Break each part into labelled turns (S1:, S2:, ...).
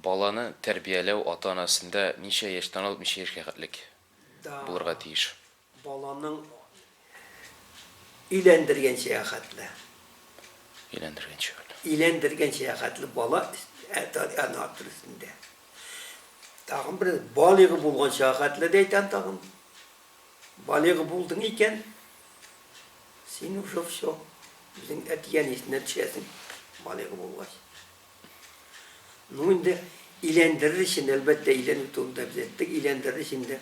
S1: Баланы тәрбияләү ата-анасында ничә яшьтән алып ничә яшькә хәтлек булырга тиеш? Баланың
S2: өйләндергәнчә хәтле.
S1: Өйләндергәнчә хәтле. Өйләндергәнчә
S2: хәтле бала ана төресендә. Тагын бер балигы булганча хәтле дә әйтәм тагын. Балигы булдың икән, син уже все, үзең әти-әнисенә төшәсең, балигы булгач. Ну инде иләндерер өчен, әлбәттә, иләнү турында без әйттек, иләндерер өчен дә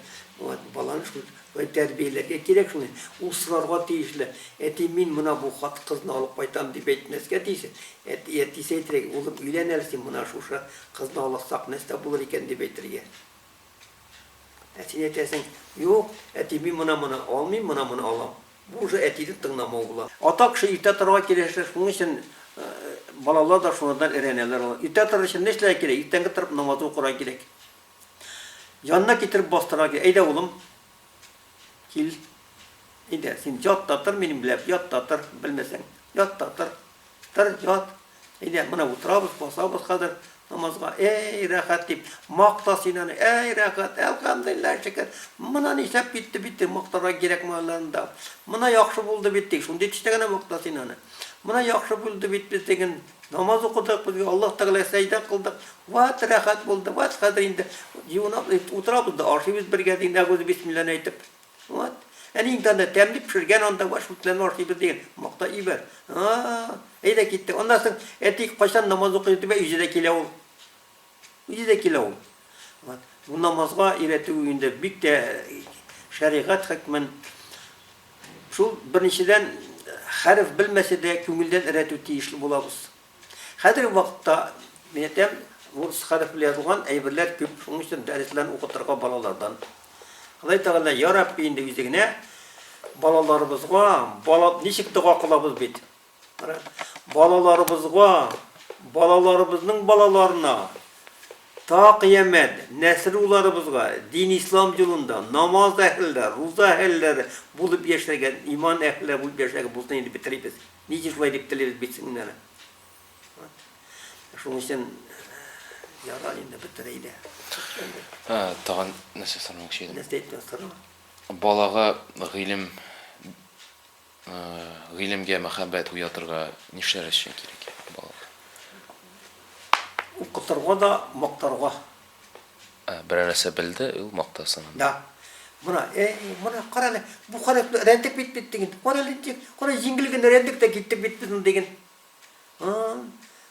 S2: баланы шул тәрбияләргә кирәк шуны. Ул сорарга тиешле. Әти, мин мына бу хат кызны алып кайтам дип әйтмәскә тиеш. Әти, әтисе әйтергә, улым, өйлән әле син мына шушы кызны аласак, нәрсә булыр икән дип әйтергә. Ә син әйтәсең, Юк, әти, мин моны-моны алмыйм, моны-моны алам. Бу уже әтине тыңламау була. Ата кеше иртә торырга кирәк, шуның өчен балалар да шуңардан өйрәнәләр алар. Иртә торыр өчен нишләргә кирәк? Иртәнге торып намазы укырга кирәк. Янына китереп бастырырга кирәк. Әйдә, улым, Кил. Әйдә, син ят та тор, минем белән ят та тор, белмәсәң. Ят та тор. Тор, ят. Әйдә, менә утырабыз, басабыз хәзер намазга. Әй, рәхәт дип, макта син аны. Әй, рәхәт, әлхәмдулиллаһ, шөкер. Мына нишләп китте бит теге мактарга кирәкмәгән алларында. Мына яхшы булды бит теге, шундый төстә генә макта син аны. Мына яхшы булды бит без диген. Намаз укыдык, безгә Аллаһ Тәгалә сәҗдә кылдык. Вәт рәхәт булды, вәт хәзер инде юынаб, утырабыз да ашыйбыз бергә диген, әгуз бисмилләне әйтеп. Вәт. Әни инде анда тәмле пешергән анда вәт шул белән ашыйбыз диген. Макта ибәр. А-а-а. Әйдә киттек. Аннан соң әти кайчан намаз укый дип әй үзе дә килә ул. Үзе дә килә ул. Вот. Бу намазга өйрәтү инде бик тә шәригать хөкмен. Шул беренчедән хәреф белмәсә дә күңелдән өйрәтү тиешле булабыз. Хәзерге вакытта, мин әйтәм, урыс хәреф белән язылган әйберләр күп, шуның өчен дәресләрне укытырга балалардан. Ходай Тәгалә, я Рабби, инде үзе генә балаларыбызга, бала ничек дога кылабыз бит. Балаларыбызга, балаларыбызның балаларына та кыямәт нәсел уларыбызга дин ислам юлында намаз әһелләре, руза әһелләре булып яшәргә, иман әһелләре булып яшәргә булсын инде бетерибез. Ничә шулай дип телибез бит сеңнәре. Шуның өчен яра инде бетерә иде.
S1: Тагын нәрсә сормакчы идем. Нәрсә әйтәсең?
S2: Балага
S1: гыйлем Гыйлемгә мәхәббәт уятырга нишләр өчен кирәк балалар?
S2: Укытырга да, мактарга. Ә,
S1: берәр нәрсә белде, ул мактасын. Да.
S2: Мына, эй, мына кара әле, бу кара рәндек бит бит диген. Кара әле, кара җиңел генә рәндек тә киттек бит без ул диген.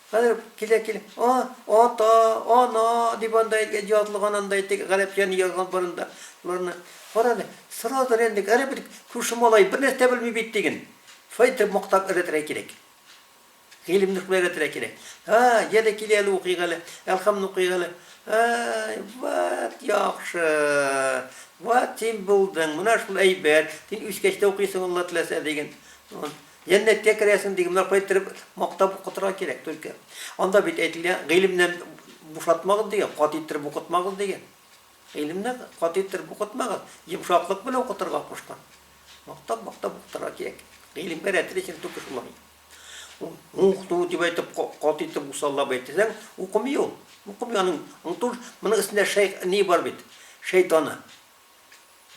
S2: Хәзер килә килә, а, ата, ана дип анда язылган анда әйтик, гарәпчәне язган барында. Боларны карады, сразу рәндик, әре бит күрше малай бер нәрсә белми бит диген. Шулай итеп мактап өйрәтергә кирәк. Гыйлемне шулай өйрәтергә кирәк. Ха, яде килә әле укыйк әле, әлхамны укыйк әле. Ай, ват яхшы. Ват син булдың, менә шул әйбәт. Син үскәч тә укыйсың, Алла теләсә диген. Җәннәткә керәсең, диген. Менә кая кереп, мактап укытырга кирәк түлке. Анда бит әйтелә, гыйлемнән бушатмагыз дигән, каты иттереп укытмагыз дигән. Гыйлемне каты иттереп укытмагыз, йомшаклык белән укытырга кушкан. Мактап, мактап укытырга кирәк. Гыйлемгә рәтле өчен түгел шулай. Укыту дип әйтеп, каты итеп усаллап әйтсәң, укымый ул. Укымый аның, аңтур, моның эчендә шәй, ни бар бит, шәйтаны.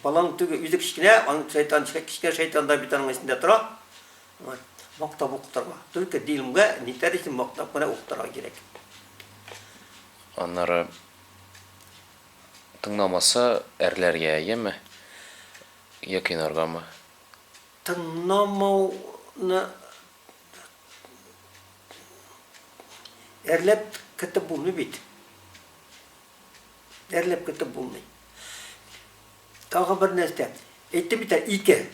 S2: Баланың түге үзе кечкенә, аның шайтан, кечкенә шайтан да бит аның эчендә тора. Мактап укытырга. Только дилмгә нитәр өчен мактап кына укытырга кирәк.
S1: Аннары тыңламаса әрләргә яме? Йә кыйнаргамы? Тыңламауны
S2: әрләп кертеп булмый бит. Әрләп көтеп булмый. Тагы бер нәрсә. Әйтте бит, ике.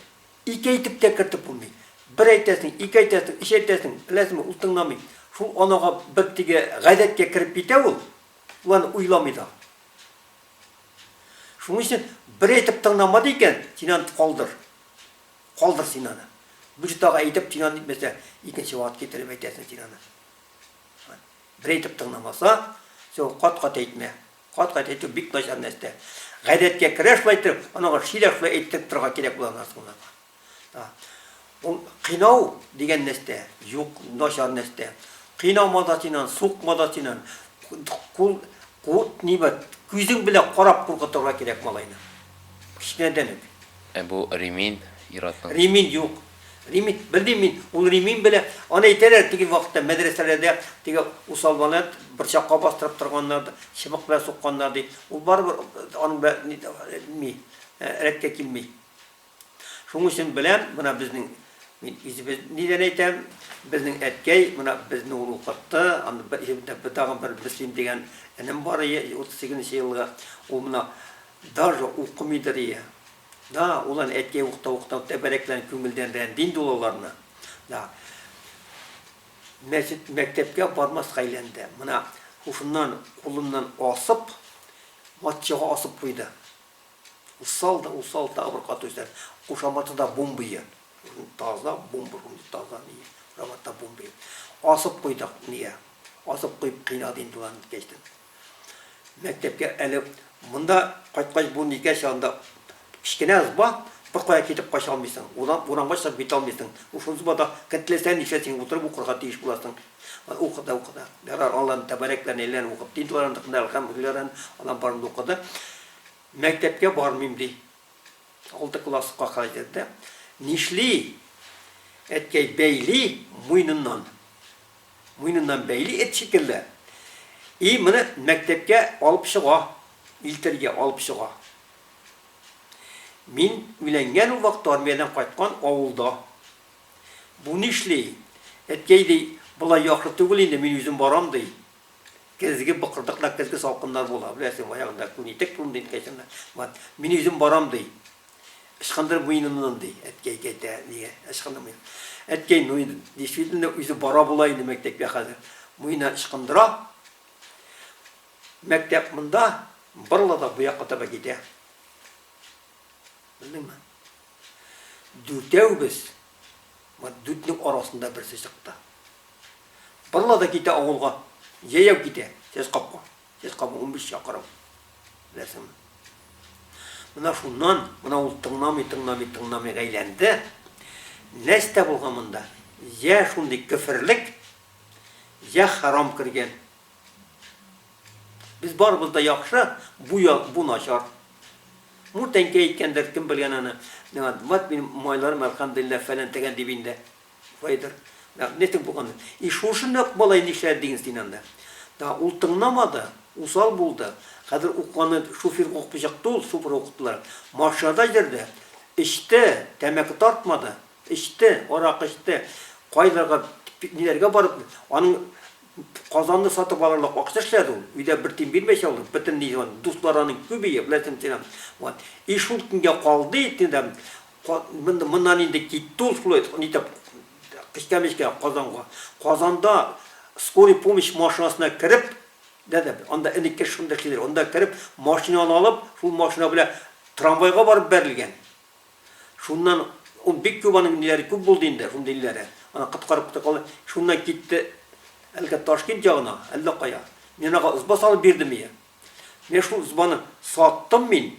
S2: Ике әйтеп тә кертеп булмый. Бер әйтәсең, ике әйтәсең, өч әйтәсең, беләсеңме, ул тыңламый. Шул анага бер теге гадәткә кереп китә ул, ул аны уйламый да. Шуның өчен бер әйтеп тыңламады икән, син аны калдыр. Калдыр син аны. Бүҗтага әйтеп тинан итмәсә, икенче вакыт китереп әйтәсең тинаны. Берәйтеп тыңламаса, син ул кат-кат әйтмә. Кат-кат әйтү бик начар нәрсә. Гадәткә керә шулай итеп, аннан ары сирәк шулай әйттереп торырга кирәк була аннан соң да. Ул кыйнау дигән нәрсә юк, начар нәрсә. Кыйнама да син аны, сукма да син аны. Кул, кул, нибат, күзең белән карап куркытырга кирәк малайны. Кечкенәдән үк. Ә бу ремень
S1: ир-атның? Ремень юк.
S2: Ремень, белмим мин, ул ремень белә, аны әйтәләр теге вакытта мәдрәсәләрдә теге усалбаны борчакка бастырып торганнар да, чыбык белән сукканнар ди. Ул барыбер аның белән ни, рәткә килми. Шуның өчен беләм, менә безнең мин үзебез нидән әйтәм, безнең әткәй менә безне ул укытты, аны бер тагын бер Мөслим дигән энем бар, 38 нче елгы, ул менә Даже укымыйдыр ия. Да, ул аны әткәй уктау-уктау тәбәрәкләнеп күңелдән рәнди инде ул аларны. Да. Мәчет, мәктәпкә бармаска әйләнде. Мына һушыннан, кулыннан асып, матчага асып куйды. Усал да, усал тагы бер кат өстәп, кушаматы да бумбые. Таза бумба, шундый таза ни, кушаматы да бумбые. Асып куйдык, ия. Асып куеп кыйнады инде ул аны кәчтүм. Мәктәпкә әле монда кайткач бу никәс янында кечкенә ызба, беркая китеп кача алмыйсың. Урам, урамга чыгып китә алмыйсың. Шул ызбада кем теләсә нишләсен утырып укырга тиеш буласың. Укыды, укыды. Ярар, алланың тәбәрәк белән әйләнеп укып дин туарындыкны әлхәмдүлилләһрән алам барымды укыды. Мәктәпкә бармыйм ди. Алты класска кадәр йөрде. Нишли? Әткәй бәйли муйныннан. Муеныннан бәйли эт шикелле. И моны мәктәпкә алып чыга, милтергә алып чыга. Мин уйләнгән ул вакыт армиядән кайткан авылда. Бу нишли, әткәй ди, болай яхшы түгел инде, мин үзем барам ди. Көзге быкырдыкта көзге салкыннар була, беләсең, баягында күн итек турында инде кайчаннар. Мин үзем барам ди. Ычкындырып муенымнан, ди. Әткәй, тәтә, нигә ычкындырып муенын? Әткәй, ну инде, действительно, үзе бара була инде мәктәпкә хәзер. Муенына ычкындыра. Мәктәп монда, борыла да бу якка таба китә. Белдеңме? Дүртәүбез, вот дүртнең арасында берсе чыкты. Борыла да китә авылга. Җәяү китә, сез капка. Сез кабы унбиш чакрым, беләсеңме? Менә шуннан, менә ул тыңламый, тыңламый, тыңламый әйләнде. Нәрсә булган монда? Йә шундый кеферлек, йә харам кергән. Без барыбыз да яхшы, бу я, бу начар. Бу тәңкә әйткәндер, кем белгән аны. Мат минем майларым, әлхәмдулилла, фәлән тәгән дип инде. Кайдыр. Мәгънәсең булган. И шушындый ук малай нишләде диген син анда. Да ул тыңламады, усал булды. Хәзер укуны шуфер укып чыкты ул, шуфер укыттылар. Машинада йөрде. Эчте, тәмәке тартмады. Эчте, аракы эчте. Кайларга, ниләргә барып, аның Казанны сатып алырлык акча эшләде ул. Өйдә бер тин бирмәйчә ул, бөтен ни, дуслары аның күбие, беләсең син аны. Вот. И шул көнгә калды итне дә, Моннан инде китте ул Флойд нитеп кечкә-мечкә Казанга. Казанда скорый помощь машинасына кереп, дәдә, анда элекке шундый эшлиләр, анда кереп, машинаны алып, шул машина белән трамвайга барып бәрелгән. Шуннан ул бик күп аның ниләре күп булды инде, шундый ниләре. Аны коткарып та калды. Шуннан китте әлеге Ташкент ягына, әллә кая. Мин аңа ызба салып бирдем ие. Менә шул ызбаны саттым мин.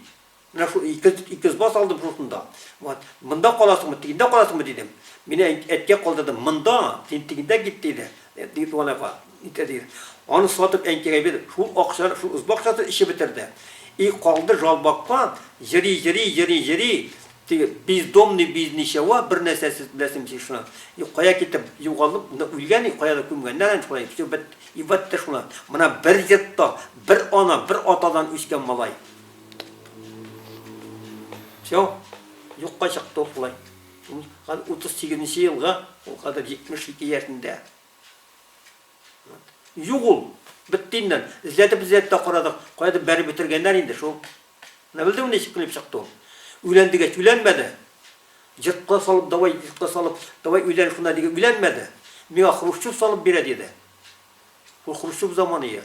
S2: Менә шул ике, ике сбас алдым шусын да. Вот, монда каласыңмы, тигендә каласыңмы дидем. Мине әткә калдырды. Монда, син тигендә кит диде. Диге туган апа. Итә диде. Аны сатып әнкәгә бирдем. Шул акча, шул сбак сатып эчеп бетерде. И калды жалбакка, җыри, җыри, җыри, җыри. Теге бездомный без ничего, бер нәрсәсез беләсем син шуны. И кая китеп югалып, үлгән и кая да күмгәннәр инде шулай. Все бит и бетте шуны. Менә бер йортта, бер ана, бер атадан үскән малай. Все, юкка чыкты ул шулай. Ул 38 елга, ул хәзер 72 яшендә. Юк ул, бетте инде. Эзләтеп эзләтеп тә карадык, кайда бәреп бетергәннәр инде шул. Менә белдеңме ничек килеп чыкты ул? Үлән дигәч үләнмәде. Җыртка салып, давай җыртка салып, давай үлән шунда диге үләнмәде. Миңа Хрущев салып бирә диде. Ул Хрущев заманы я.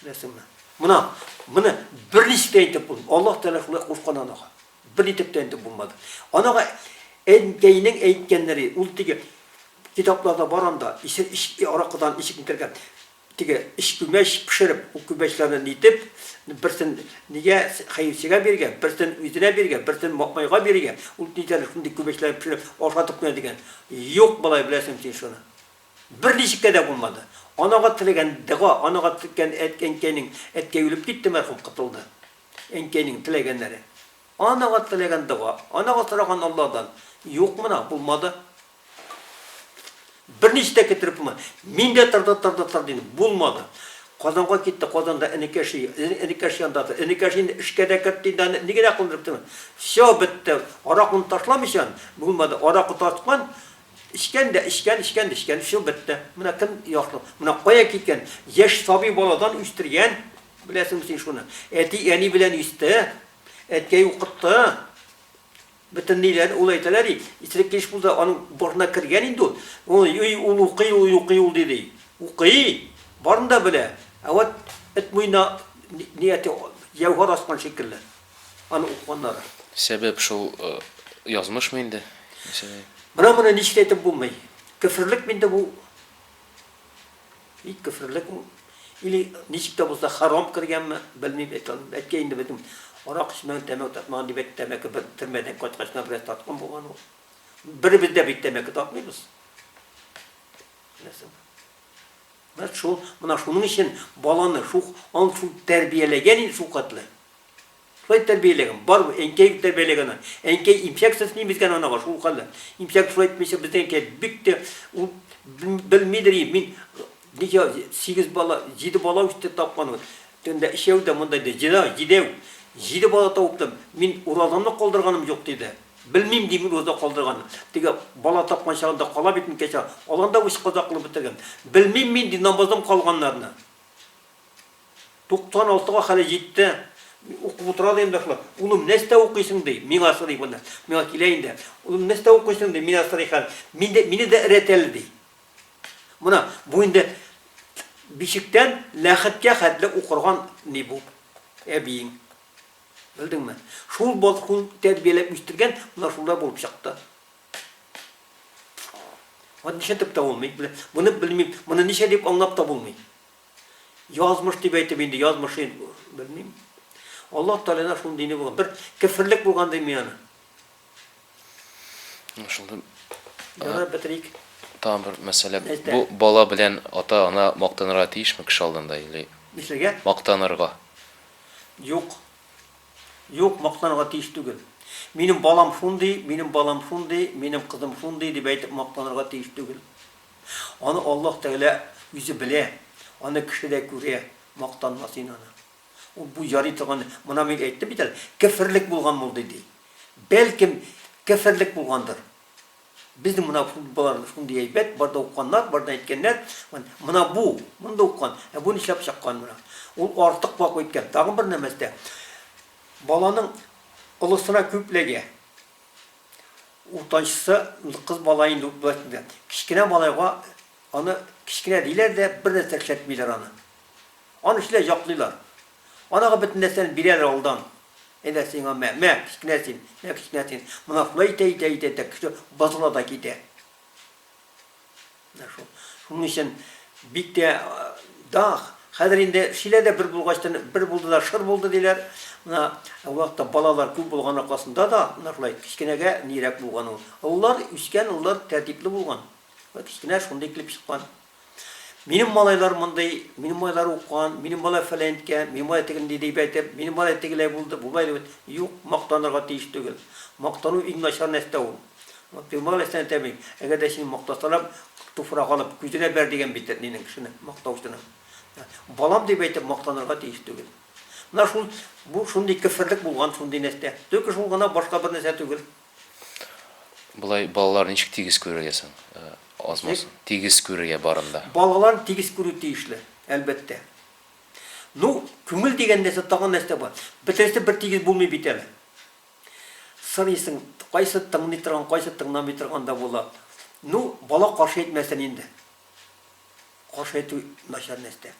S2: Беләсеңме? Мына, мына бер ничек тә әйтеп булмый. Аллаһ Тәгалә шулай кушкан анага. Бер ничек тә әйтеп булмады. Анага әнкәйнең әйткәннәре, ул теге китапларда бар анда, исе ич аракыдан ишек кергән. Теге иш күмәч пешереп, ул күмәчләрне нитеп, берсен нигә хәерчегә биргән, берсен үзенә биргән, берсен Матмайга биргән. Ул нигә шундый күмәчләрне пешереп ашатып кенә дигән. Юк, балай, беләсең син шуны. Берничек тә дә булмады. Анага теләгән дога, анага телкән әт әнкәйнең, әткәй үлеп китте, мәрхүм котылды. Әнкәйнең теләгәннәре. Анага теләгән дога, анага сораган Алладан. Юк мына, булмады. Берничек тә китереп булмады. Мин дә торды, торды, торды инде, булмады. Казанга китте, Казанда энекәше, эне энекәш янда тор. Энекәш инде эшкә дә кертте инде аны, ни генә кылдырып тормый. Всё, бетте. Аракыны ташламыйчан, булмады. Аракы тарткан, Эчкән дә эчкән, эчкән дә эчкән, всё, бетте. Менә кем яхшы, менә кая киткән, яшь сабый баладан үстергән, беләсеңме син шуны? Әти, әни белән үсте, әткәй укытты, бөтенләй ул әйтәләр ди, исерек килеш булды, аның башына кергән инде ул, ой-ой, ул укый, ой, укый ул, ди, укый, барын да белә, ә вот эт муенына нияте, җәүһәр аскан шикелле. Аны укыганнар. Сәбәп шул
S1: язмышмы инде? Менә
S2: моны ничек әйтеп булмый. Кеферлек минде бу. Бик кеферлек ул. Или ничек тә булса харам кергәнме, белмим, әткәй инде безнең арак эчмәгән, тәмәке тартмаган дип әйтте, тәмәке бер төрмәдән кайткач кына бераз тарткан булган ул. Беребез дә бит тәмәке тартмыйбыз. Беләсең. Менә шул, менә шуның өчен баланы шул, аны шул тәрбияләгән инде шул катлы. Шулай тәрбияләгән, барыбер әнкәй бит тәрбияләгән аны. Әнкәй имчәксез нимезгән анага шул хәлле. Имчәк шулай әйтмичә, безнең әнкәй бик тә ул белмидер и мин ничә сигез бала, җиде бала үсте тапкан. Төнлә өчәү дә монда иде, җиде, җидәү. Җиде бала табып та мин уразамны калдырганым юк, диде. Белмим, ди мин узда калдырган. Теге бала тапкан чагында кала бит микән чак. Алар да үч каза кылып бетергән. Белмим мин, ди, намаздан калганнарны. 96 га хәле җитте. Укып утыра да инде шулай. Улым, нәрсә укыйсың, ди, миңа сорый баны. Миңа килә инде. Улым, нәрсә укыйсың, ди, миңа сорый хәл. Мин дә, мине дә өрәт әле, ди. Менә бу инде бишектән ләхеткә хәтле укырган ни бу әбиең. Белдеңме? Шул балкуын тәрбияләп үстергән, менә шулай булып чыкты. Аны нишләтеп тә булмый, моны белмим, моны ничә дип аңлап та булмый. Язмыш дип әйтеп инде, язмышын белмим. Аллаһ Тәгаләнә шул дине булган, бер кефирлек булган дим мин аны.
S1: Шулда Яна
S2: бетрик. Там бер
S1: мәсьәлә. Бу бала белән ата-ана мактанырга тиешме кеше алдында или? Нишләргә?
S2: Мактанырга.
S1: Юк.
S2: Юк, мактанырга тиеш түгел. Минем балам шундый, минем балам шундый, минем кызым шундый дип әйтеп мактанырга тиеш түгел. Аны Аллаһ Тәгалә үзе белә, аны кеше дә күрә, мактанма син аны. Ул бу ярый торган, моны мин әйттем бит әле, кеферлек булган булды ди. Бәлкем, кеферлек булгандыр. Безнең мына фондбалар шундый әйбәт, бар да укканнар, бар да әйткәннәр, мына бу, моны да уккан, ә бу нишләп чыккан мына? Ул артык вак үткән. Тагын бер нәмәс тә, баланың олысына күп ләгә. Уртанчысы кыз бала инде үтмәсендә. Кечкенә малайга аны кечкенә диләр дә, бер нәрсә эшләтмиләр аны. Аны эшлә яклыйлар. Анага бөтен нәрсәне бирәләр алдан. Әйдә сиңа, мә, мә, кечкенә син, мә, кечкенә син. Монан шулай итә, итә, итә, итә, кеше бозыла да китә. Менә шул. Шуның өчен бик тә дах. Хәзер инде шилә дә бер булгачтан, бер булды да шыр булды диләр. Менә вакытта балалар күп булган аркасында да, менә шулай кечкенәгә нирәк булган ул. Олылар, үскән олылар тәртипле булган. Кечкенә шундый килеп чыккан. Минем малайлар мондый, минем малайлар укыган, минем малай фәләенткә, минем малай тегенди дип әйтеп, минем малай тегеләй булды, болай дип әйтеп, юк, мактанырга тиеш түгел. Мактану иң начар нәрсә ул. Пәйгамбәр галәйһиссәлам әйтәме, әгәр дә сине мактасалар, туфрак алып, күзеңә бәр дигән бит әтинең кешене, мактаучының. Балам дип әйтеп мактанырга тиеш түгел. Менә шул бу шундый кеферлек булган, шундый нәрсә. Только шул гына башка бер нәрсә түгел.
S1: Болай балалар ничек тигез күрергә соң? Азмаз, тигез күрергә барын да. Балалар тигез күрү
S2: тиешле, әлбәттә. Ну, күңел дигән нәрсә тагын нәрсә бар. Бөтенесе бер тигез булмый бит әле. Сорыйсың, кайсы тыңлый торган, кайсы тыңламый торган да була. Ну, бала каршы әйтмәсен инде. Каршы әйтү начар нәрсә.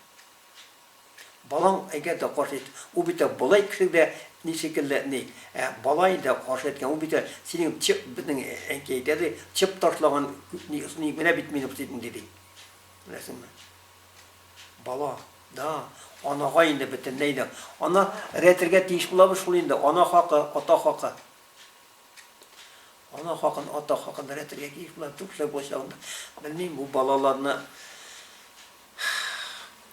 S2: Балаң әгәр дә каршы әйтсә, ул бит тә болай кешелек дә ни шикелле, ни. Ә бала инде каршы әйткән, ул бит тә синең чып, безнең әнкәй әйтә ди, чып ташлаган ни, ни генә бит мин укытып инде, ди. Беләсеңме? Бала, да, анага инде бөтенләй дә. Ана рәтергә тиеш булабыз шул инде, ана хакы, ата хакы. Ана хакын, ата хакын рәтергә тиеш булабыз, күп эшләр булачак анда. Белмим, бу балаларны.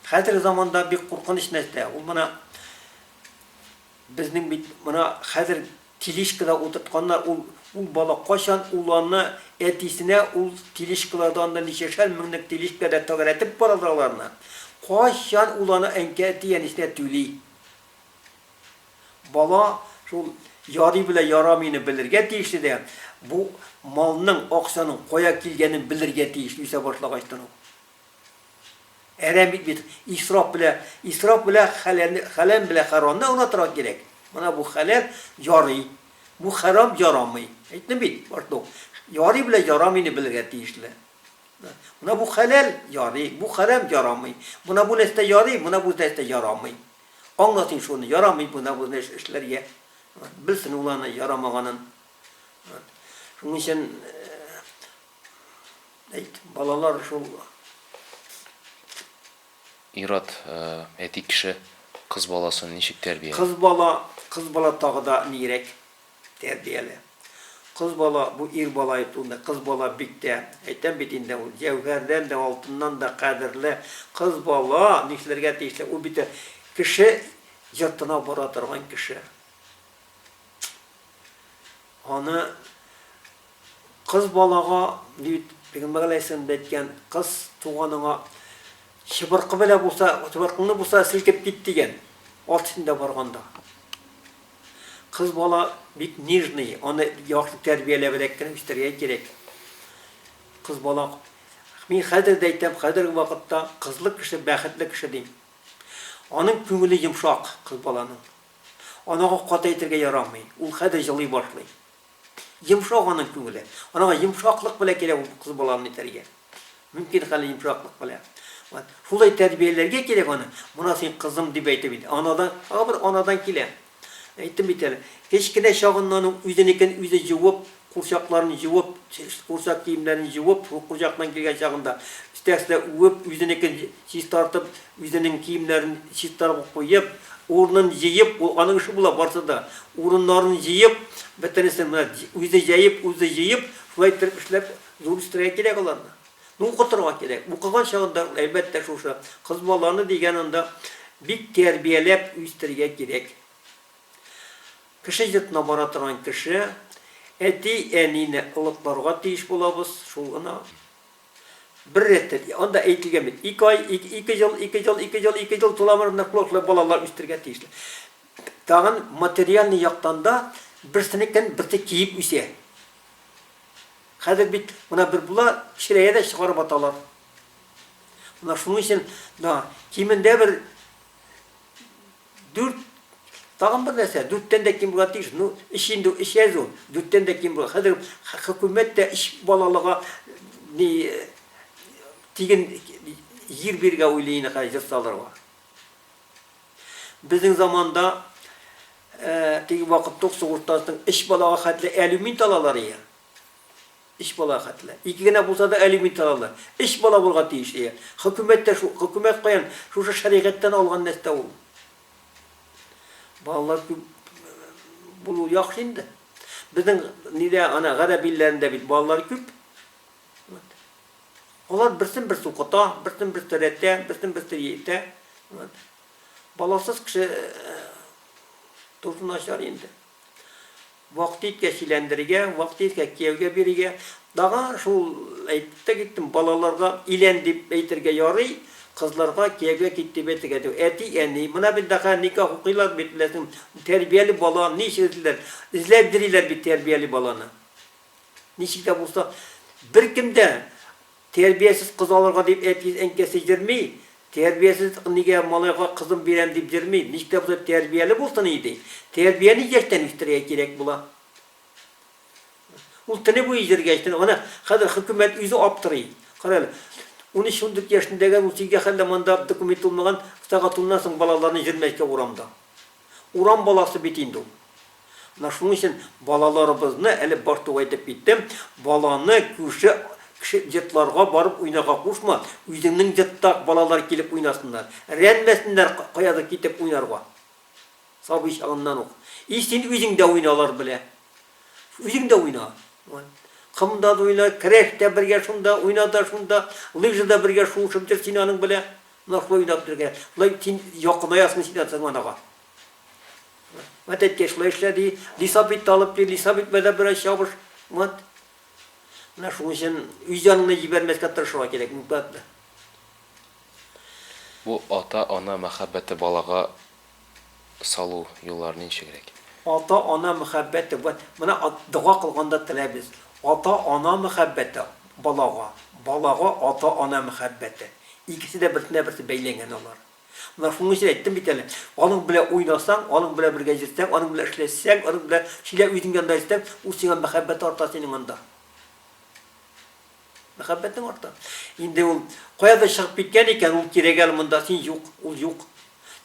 S2: Хәзерге заманда бик куркыныч нәрсә, ул менә безнең бит менә хәзер тележкада утыртканнар, ул ул бала кайчан ул аны әтисенә ул тележкалардан да ничәшәр меңлек тележкада тәгәрәтеп баралар аларны. Кайчан ул аны әнкә әти әнисенә түли? Бала шул ярый белә ярамыйны белергә тиешле дә, бу малның, акчаның кая килгәнен белергә тиеш үсә башлагачтан ук. Әрәм бит бит, исраф белә, исраф белә хәләл, хәләл белә харамны уратырга кирәк. Менә бу хәләл ярый, бу харам ярамый. Әйттем бит, башлык. Ярый белә ярамыйны белергә тиешле. Менә бу хәләл ярый, бу харам ярамый. Менә бу нәрсә ярый, менә бу нәрсә ярамый. Аңласын шуны, ярамый менә бу нәрсә эшләргә. Белсен ул аны ярамаганын. Шуның өчен Әйт, балалар шул.
S1: Ират, әти кеше кыз баласын ничек тәрбияли? Кыз бала,
S2: кыз бала тагы да нирәк тәрбияли. Кыз бала бу ир бала әйтүендә, кыз бала бик тә, әйтәм бит инде, ул җәүһәрдән дә, алтыннан да кадерле. Кыз бала нишләргә тиешле? Ул бит кеше йортына бара торган кеше. Аны Кыз балага, дип, пигамбәр галәйһиссәлам дә әйткән, кыз туганыңа чыбыркы белән булса, чыбыркыңны булса селкеп кит, дигән, ат өстендә барганда. Кыз бала бик нежный, аны яхшы тәрбияләбрәк кенә үстергә кирәк. Кыз бала, мин хәзер дә әйтәм, хәзерге вакытта кызлы кеше бәхетле кеше, дим. Аның күңеле йомшак, кыз баланың. Анага каты әйтергә ярамый, ул хәзер җылый башлый. Йомшак аның күңеле. Анага йомшаклык белән кирәк ул кыз баланы итәргә. Мөмкин хәле йомшаклык белән. Вот. Шулай тәрбияләргә кирәк аны. Моны син кызым дип әйтеп бит. Анадан, тагы бер анадан килә. Әйттем бит әле. Кечкенә чагыннан ук үзенекен үзе җуып, курчакларын җуып, курчак киемнәрен җуып, шул курчактан килгән чагында, өстәгесенә үбеп, үзенекен чистартып, Үзенең киемнәрен чистарга куеп, урынын җыеп, ул аның эше була барысы да, урыннарын җыеп, бөтенесен менә үзе җәеп, үзе җыеп, шулай иттереп эшләп, зур үстерергә кирәк аларны. Ну, укытырга кирәк. Укыган чагында, әлбәттә, шушы кыз баланы дигән анда бик тәрбияләп үстерергә кирәк. Кеше йортына бара торган кеше әти-әнине олыкларга тиеш булабыз, шул гына. Бер рәттән, анда әйтелгән бит, ике ай, ике ел, ике ел, ике ел, ике ел туламыр ныклыклы балалар үстергә тиешле. Тагын материальный яктан да берсенекен берсе киеп үсә. Хәзер бит мына бер була, кечерәя дә чыгарып аталар. Мына шуның өчен да кимендә бер Дүрт, тагын бер нәрсә, дүрттән дә ким булырга тиеш. Ну, өч инде ул, өч әз ул, дүрттән дә ким булыр. Хәзер хөкүмәт тә өч балалыга ни тиген җир бирергә уйлый инде хәзер җыр салырга. Безнең заманда теге вакытта ук сугыштан соң өч балага хәтле алюмин талалар иде. Өч балага хәтле. Ике генә булса да алимент алалар. Өч бала булга тиеш, әйе. Хөкүмәт тә шул. Хөкүмәт каян? Шушы шәригатьтән алган нәрсә ул. Балалар күп булу яхшы инде. Безнең нидә, ана гарәп илләрендә бит балалар күп. Вот. Алар берсен берсе укыта, берсен берсе рәтә, берсен берсе итә. Вот. Баласыз кеше э, тору начар инде. Вакыт иткәч иләндерергә, вакыт иткәч кияүгә бирергә. Тагын шул әйтеп тә киттем, балаларга илән дип әйтергә ярый, кызларга кияүгә кит дип әйтергә дә. Әти, әни, менә бит нәкә никах укыйлар бит, беләсең, тәрбияле бала ничек эзлиләр, эзләп йөриләр бит тәрбияле баланы. Ничек тә булса, беркем дә Тәрбиясез кыз алырга дип әтиен-әнкәсе йөрми, тәрбиясез нигә малайга кызын бирәм дип йөрми, ничек тә булса тәрбияле булсын иде. Тәрбияне яшьтән үстерергә кирәк була. Ул төне буе йөргәч, аны хәзер хөкүмәт үзе аптырый. Кара әле, унөч-ундүрт яшендәге, унсигездә хәллә монда документы булмаган, сәгать уннан соң балаларны җөрмәскә урамда. Урам баласы бит инде ул. Менә шуның өчен балаларыбызны, әле баш тук әйтеп киттем, баланы күрше кеше йортларга барып уйнарга кушма, үзеңнең йортта балалар килеп уйнасыннар, рәнмәсеннәр каядыр китеп уйнарга, сабый чагыннан ук. И син үзең дә уйна алар белән. Үзең дә уйна. Комда да уйна, керәш тә бергә шунда, уйна да шунда, лыжада бергә шуышып йөр син аның белән. Ныклы уйлап бирергә. Болай син якынаязмы син атаңа анага. Вот әткәй шулай эшлә ди, лисап итте алып кил, лисап итмәдә бераз чабыш. Вот. Менә шуның өчен үз яныңны җибәрмәскә тырышырга кирәк, никъмәтне.
S1: Бу ата-ана мәхәббәте балага салу юллары ничегрәк? Ата-ана
S2: мәхәббәте, вәт, менә дога кылганда теләбез, ата-ана мәхәббәте, балага, балага ата-ана мәхәббәте. Икесе дә берсенә-берсе бәйләнгән алар. Менә шуның өчен әйттем бит әле, аның белән уйнасаң, аның белән бергә йөрсәң, аның белән эшләшсәң, аның белән сөйлә, үзең янында йөрсәң, ул сиңа мәхәббәте арта синең анда. Мәхәббәтең арта. Инде ул каядыр чыгып киткән икән, ул кирәге әле монда, син юк, ул юк.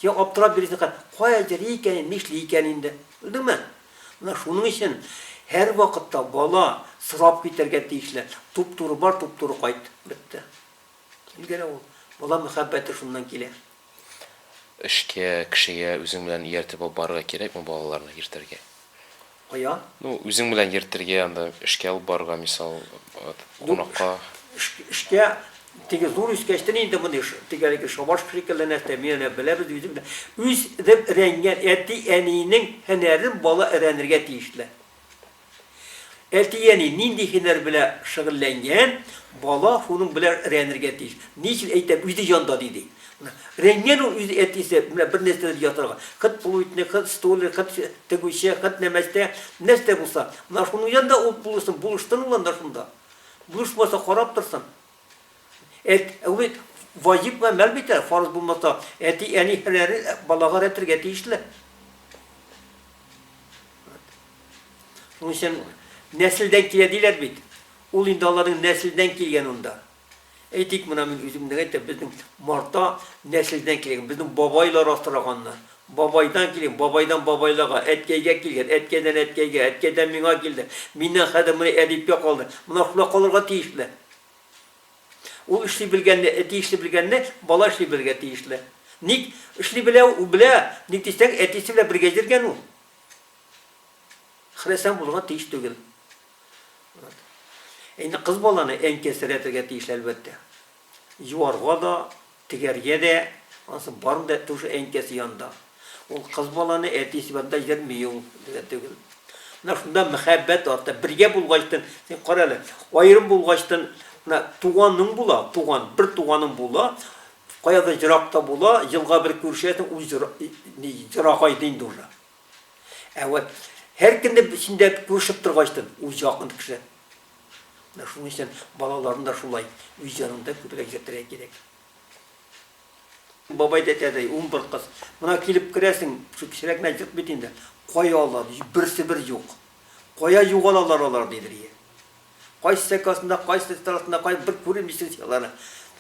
S2: Син аптырап йөрисең, кая йөри икән, нишли икән инде. Белдеңме? Менә шуның өчен һәрвакытта бала сорап китәргә тиешле. Туп-туры бар, туп-туры кайт. Бетте. Килгәләү ул. Бала мәхәббәте шуннан килә.
S1: Эшкә, кешегә үзең белән ияртеп алып барырга кирәкме балаларны йөртергә? Каян?
S2: Ну, үзең белән
S1: йөртергә, анда эшкә алып барырга, мисал, кунакка. Эшкә,
S2: теге зур үскәчтен инде мондый теге әлеге шабашка шикелле нәрсә, мин әнә беләбез үзем дә. Үз реп рәнгән әти-әнинең һөнәрен бала рәнергә тиешле. Әти-әни нинди һөнәр белә шөгыльләнгән, бала шуның белә рәнергә тиеш. Ни өчен әйтәм, үзе җанда диде. Менә рәнгән ул үзе әтисе, менә бер нәрсәдер ясарга. Хет плуйтник, хет столер, хет тегүче, хет нәмәстә, нәрсә булса. Менә шуның җанда ул булышсын, булыштын ул анда шунда. Булышмаса, карап торсын. Әт, ул бит ваҗиб гамәл бит әле, фарыз булмаса, әти-әни һәләре балага рәтергә тиешле. Шуның өчен нәселдән килә диләр бит. Ул инде аларның нәселдән килгән унда. Әйтик, менә мин үзем генә әйтәм, безнең Марта нәселдән килгән, безнең бабайлар асраганнар. Бабайдан килгән, бабайдан бабайларга, әткәйгә килгән, әткәйдән әткәйгә, әткәйдән миңа килде. Миннән хәзер менә әдипкә калды. Менә шулай калырга тиешле. Ул эшли белгәнне, әти эшли белгәнне бала эшли белергә тиешле. Ник эшли белә ул? Белә. Ник дисәң, әтисе белән бергә йөргән ул. Хресән булырга тиеш түгел. Инде кыз баланы әнкәсерәтергә тиеш әлбәттә. Юарга да, Тегәргә дә, анысы барын да тушы әнкәсе янында. Ул кыз баланы әтисе янында йөрми ул, дигән төгел. Менә шунда мәхәббәт арта. Бергә булгачтын, син кара әле, аерым булгачтын, менә туганың була, туган, бер туганың була, каядыр еракта була, елга бер күрешәсең, ул җыр, ни, җырагайды инде уже. Ә вот һәр көнне бишендә күрешеп торгач та, үз якын кеше. Менә шуның өчен балаларын да шулай үз янында күбрәк йөртергә кирәк. Бабай да әйтәдәй, ун бер кыз. Мына килеп керәсең, шул кечерәк генә җырт бит инде. Кая алар? Берсе бер юк. Кая югалалар алар, дидер ие. Кайсы сәкасында, кайсы страсында, кай бер күрим дисең син аларны.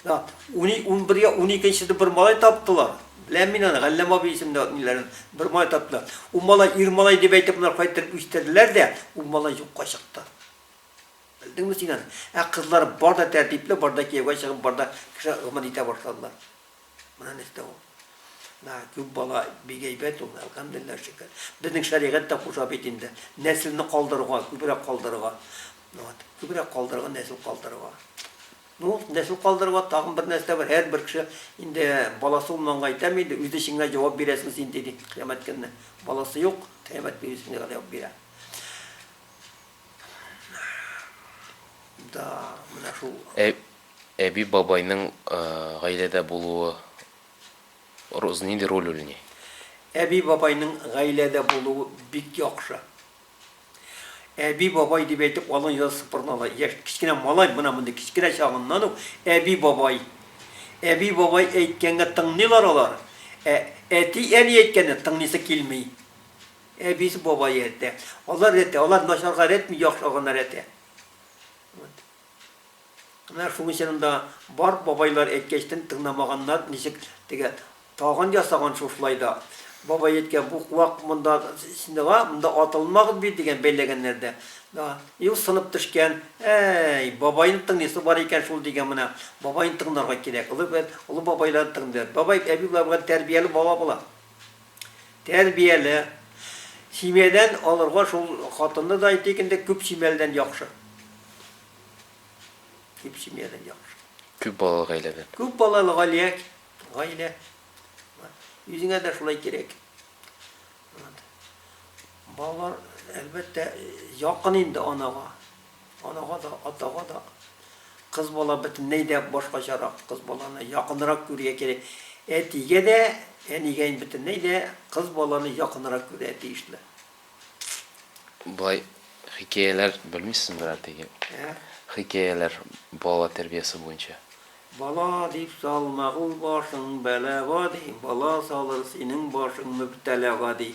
S2: Да, уни, ун бергә, ун икенчеде бер малай таптылар. Беләм мин аны, Галләм абый исемле ниләрен бер малай таптылар. Ул малай ир малай дип әйтеп болар кайтып үстерделәр дә, ул малай юкка чыкты. Белдеңме син аны? Ә кызлар бар да тәртипле, бар да кияүгә чыгып, бар да кеше гомер итә башладылар. Менә нәрсә ул. Менә күп бала бик әйбәт ул, әлхәмдулиллаһ шөкер. Безнең шәригать тә куша бит инде. Нәселне калдыруга, күбрәк калдыруга. Вот, күбрәк калдыруга, нәсел калдыруга. Ну, нәсел калдыруга тагын бер нәрсә бар. Һәрбер кеше инде баласы булманга әйтәме инде, үз эшеңә җавап бирәсең син диде кыямәт көнне. Баласы юк, кыямәт көнне үз эшеңә җавап бирә. Да, менә шул. Ә
S1: Әби-бабайның гаиләдә булуы нинди роль уйный? Әби-бабайның
S2: гаиләдә булуы бик яхшы. Әби-бабай дип әйтеп алың йола сыпырына ала. Яшь, кечкенә малай менә мондый кечкенә чагыннан ук әби-бабай. Әби-бабай әйткәнгә тыңлыйлар алар. Ә әти-әни әйткәнне тыңлыйсы килми. Әбисе, бабае рәттә. Алар рәттә, алар начарга рәтми, яхшыга гына рәтә. Вот. Менә шуның өчен анда бар бабайлар әйткәчтен тыңнамаганнар ничек тегә тагын ясаган шушылай да бабай әйткән бу куак монда синдага монда атылмагыз бит дигән бәйләгәннәр дә да ил сынып төшкән әй бабайны тыңлыйсы бар икән шул дигән менә бабайны тыңларга кирәк олы олы бабайлар тыңлар бабай әби болар белән тәрбияле бала була. Тәрбияле. Семьядән алырга шул хатынны да әйтик инде, күп семьяледән яхшы. Күп семьядән
S1: яхшы.
S2: Күп балалы гаиләдән.
S1: Күп балалы
S2: галия, гаилә. Үзеңә дә шулай кирәк. Балалар, әлбәттә, якын инде анага. Анага да, атага да. Кыз бала бөтенләй дә башкачарак. Кыз баланы якынрак күрергә кирәк. Әтигә дә, әнигә инде бөтенләй дә кыз баланы якынрак күрергә тиешле. Болай
S1: хикәяләр белмисезме берәр теге? Ә? Хикәяләр бала тәрбиясе буенча. Бала
S2: дип салма ул башың бәлага ди, Бала салыр синең башың мөбтәлага ди.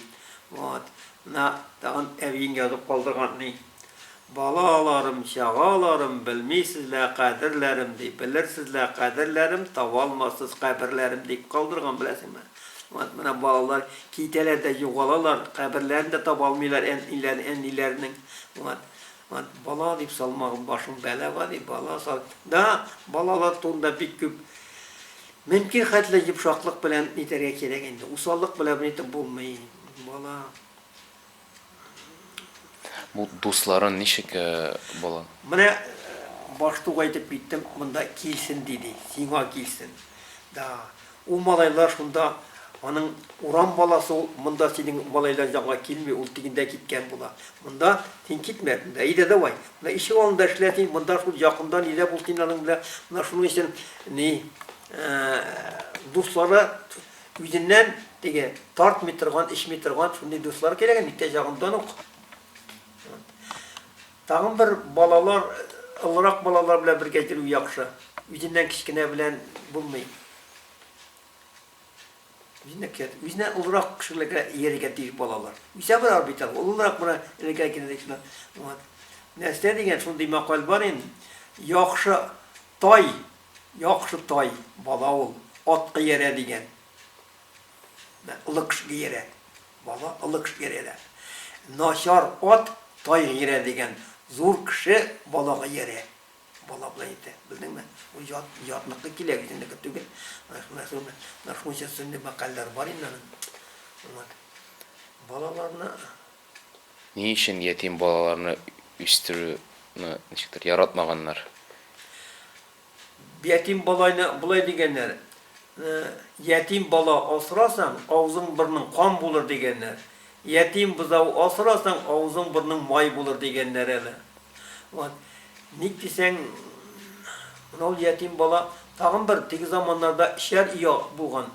S2: Вот. Менә тагын әбиең язып калдырган ни. Балаларым, чагаларым, Белмисез лә кадерләрем, ди, Белерсез лә кадерләрем, Табалмассыз каберләрем, дип калдырган, беләсеңме. Вот менә балалар китәләр дә югалалар, каберләрен дә таба алмыйлар әниләренең. Вот. Вәт бала дип салмагым башым бәлага дип бала сал да балалар турында бик күп Мөмкин хәтле йомшаклык белән нитәргә кирәк инде. Усаллык белән бер итеп булмый. Бала.
S1: Бу дусларын ничек э, бала? Менә
S2: баштуга әйтеп киттем, монда килсен диде, сиңа килсен. Да, Ул малайлар шунда, аның урам баласы ул, монда синең малайлар җанга килми, ул тегендә киткән була. Монда син китмә, монда әйдә давай, менә ишек алдында эшлә син, монда шул якында нидә бул син аның белән, менә шуның өчен ни дуслары үзеннән теге тартмый торган, эчми торган шундый дуслар кирәк, микте чагындан ук. Тагын бер балалар, олырак балалар белән бергә йөрү яхшы. Үзеннән кечкенә белән булмый. Үзеннән кечкенә, үзеннән олырак кешеләргә иярергә тиеш балалар. Үсә баралар бит алар, олыларак була, элеккеге кенәдәй шунда. Вот. Нәрсә дигән шундый макал бар инде. Яхшы тай, яхшы тай бала ул, атка иярә дигән. Лыкш гиерә. Бала лыкш гиерә. Начар ат тай гиерә дигән, зур кеше бала гиерә. Бала болай әйтә. Белдеңме? Бу ят, ятныкы килә, үзенеке түгел. Менә шул, менә шунча сөнни мәкальләр бар инде аның. Вот. Балаларны.
S1: Ни өчен ятим балаларны үстерүне ничектер яратмаганнар?
S2: Ятим балайны болай дигәннәр, Ятим бала асрасаң, авызың-борның кан булыр, дигәннәр. Ятим бозау асрасаң, авызың-борның май булыр, дигәннәр әле. Вот. Ник дисәң, менә ул ятим бала тагын бер теге заманнарда эчәр оя булган.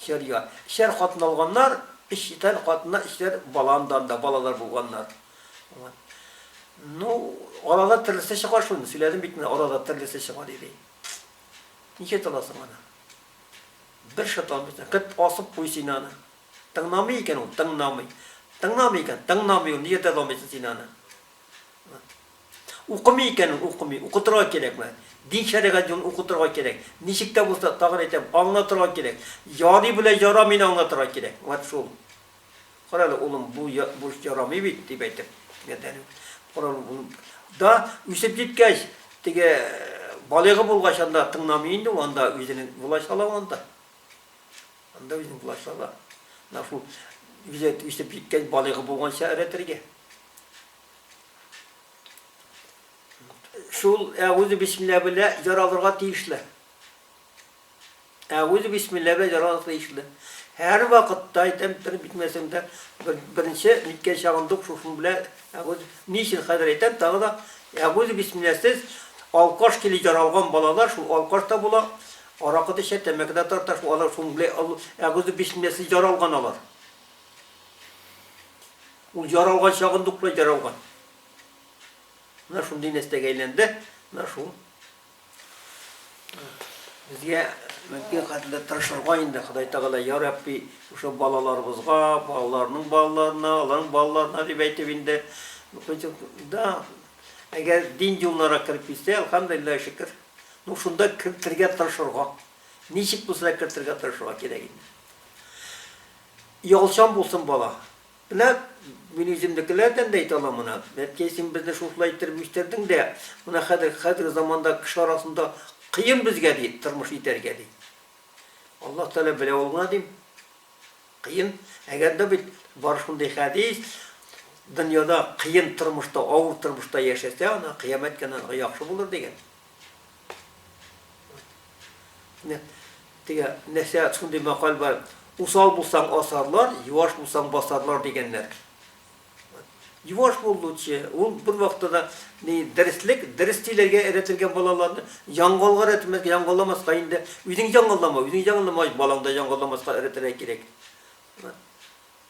S2: Эчәр оя. Эчәр хатын алганнар, эчтән хатыннар, эчтән баландан да балалар булганнар. Ну, арада төрлесе чыга шуны. Сөйләдем бит менә, арада төрлесе чыга диде. Ничә таласың аны? Бер шатан бит. Кыт асып куй син аны. Тыңламый икән ул, тыңламый. Тыңламый икән, тыңламый ул. Нигә тыңламыйсың син аны? Укымый икән ул, укымый. Укытырга кирәкме? Дин шәригать юлын укытырга кирәк. Ничек тә булса, тагын әйтәм, аңлатырга кирәк. Ярый белән ярамыйны аңлатырга кирәк. Вот шул. Кара әле, улым, бу бурыч ярамый бит, дип әйтеп, ярдәм коралы булып да үсеп җиткәч, теге балыгы булгач анда тыңламый инде, анда үзенең власть ала анда. Анда үзенең власть ала. Менә шул үзе үсеп җиткәч, балыгы булганча әрәтергә. Шул әгүзе бисмилла белә яралырга тиешле. Ә үзе бисмилла белән яратыклы ишле. Һәр вакытта әйтәм, тырып битмәсәң дә, беренче ниткән чагында ук шушының белән әгуз, ни өчен хәзер әйтәм, тагы да әгуз бисмилласез алкаш киле яралган балалар шул алкаш та була, аракы да эчә, тәмәке дә тарта, шул алар шуның белән әгуз бисмилласез яралган алар. Ул яралган чагында ук яралган. Менә шундый нәрсәгә әйләнде, менә шул. Безгә мөмкин хәтле тырышырга инде Ходай Тәгалә, я Рабби, шушы балаларыбызга, балаларның балаларына, аларның балаларына дип әйтеп инде. Да, әгәр дин юлларына кереп китсә, алхамдулилла шөкер. Ну шунда кертергә тырышырга. Ничек булса да кертергә тырышырга кирәк инде. Ялчан булсын бала. Менә мин үземнекеләрдән дә әйтә алам моны. Әткәй, син безне шушылай иттереп үстердең дә, менә хәзер, хәзерге заманда кеше арасында кыен безгә, ди, тормыш итәргә, ди. Аллаһ Тәгалә белә ул гына, дим. Кыен. Әгәр дә бит бар шундый хәдис, дөньяда кыен тормышта, авыр тормышта яшәсә, ана кыямәт кенә яхшы булыр дигән. Менә теге нәрсә шундый макал бар. Усал булсаң асарлар, юаш булсаң басарлар дигәннәр. Юаш бул лучше. Ул бер вакытта да ни дәреслек, дәрес сөйләргә өйрәтелгән балаларны яңгылга өйрәтмәскә, яңгыламаска инде. Үзең яңгылама, үзең яңгыламагач, балаң да яңгыламаска өйрәтергә кирәк.